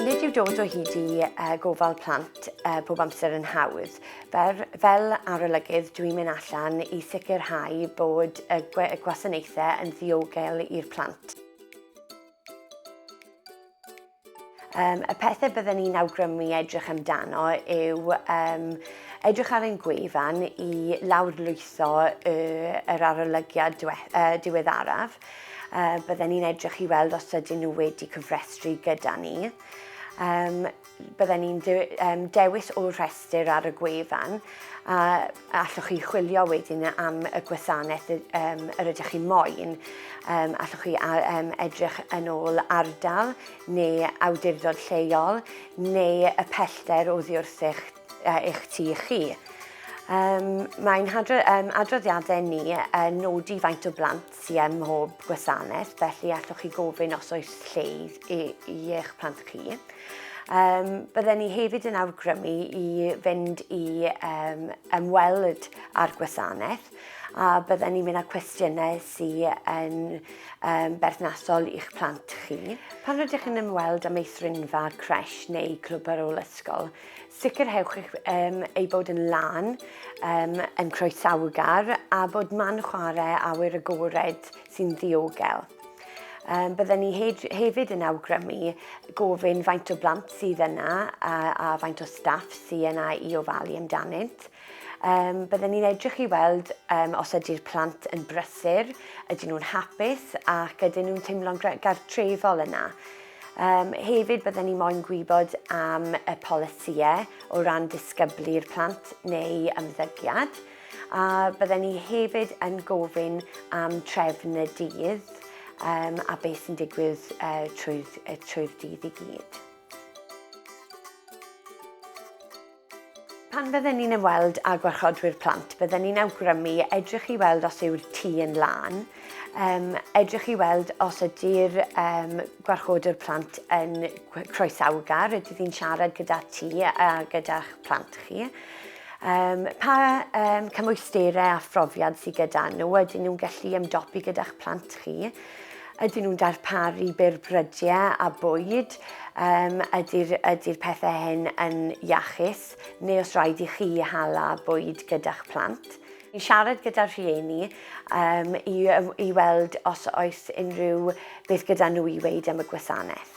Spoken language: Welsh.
Nid yw dod o hyd i uh, gofal plant uh, pob amser yn hawdd. Fer, fel arolygydd, dwi'n mynd allan i sicrhau bod y gwasanaethau yn ddiogel i'r plant. Um, y pethau byddwn ni'n awgrymu edrych amdano yw um, edrych ar ein gwefan i lawrlwytho y, yr arolygiad dwe, uh, diweddaraf. Uh, byddwn ni'n edrych i weld os ydyn nhw wedi cyfrestru gyda ni um, bydden ni'n de um, dewis o'r rhestr ar y gwefan a Allwch chi chwilio wedyn am y gwasanaeth yr ydych chi'n moyn. Allwch chi edrych yn ôl ardal neu awdurdod lleol neu y pellter oddi wrth eich tŷ chi. Mae'n adroddiadau ni yn nodi faint o blant sy ym mhob gwasanaeth, felly allwch chi gofyn os oes lle i, i eich plant chi. Um, bydden ni hefyd yn awgrymu i fynd i um, ymweld â'r gwasanaeth a bydden ni'n mynd â cwestiynau sy'n yn um, berthnasol i'ch plant chi. Pan rydych chi'n ymweld â meithrinfa, cres neu clwb ar ôl ysgol, Sicrhewch eich um, ei bod yn lan, um, yn croesawgar a bod man chwarae awyr agored sy'n ddiogel. Um, bydden ni hefyd yn awgrymu gofyn faint o blant sydd yna a, a faint o staff sydd yna i ofalu amdanynt. Um, bydden ni'n edrych i weld um, os ydy'r plant yn brysur, ydyn nhw'n hapus ac ydyn nhw'n teimlo'n gartrefol yna. Um, hefyd, byddwn ni moyn gwybod am y polisïau o ran disgyblu'r plant neu ymddygiad, a byddwn ni hefyd yn gofyn am trefn y dydd um, a beth sy'n digwydd uh, trwy'r, trwy dydd i gyd. Pan fydden ni'n ymweld â gwarchodwyr plant, bydden ni'n awgrymu edrych i weld os yw'r tŷ yn lân, um, edrych i weld os ydy'r um, gwarchodwr plant yn croesawgar, ydy ddi'n siarad gyda ti a gyda'ch plant chi. Um, pa um, cymwysterau a phrofiad sydd gyda nhw, ydyn nhw'n gallu ymdopi gyda'ch plant chi. Ydyn nhw'n darparu byr brydiau a bwyd? Um, ydy'r ydy pethau hyn yn iachus? Neu os rhaid i chi hala bwyd gyda'ch plant? I siarad gyda'r rhieni um, i, i weld os oes unrhyw beth gyda nhw i weid am y gwasanaeth.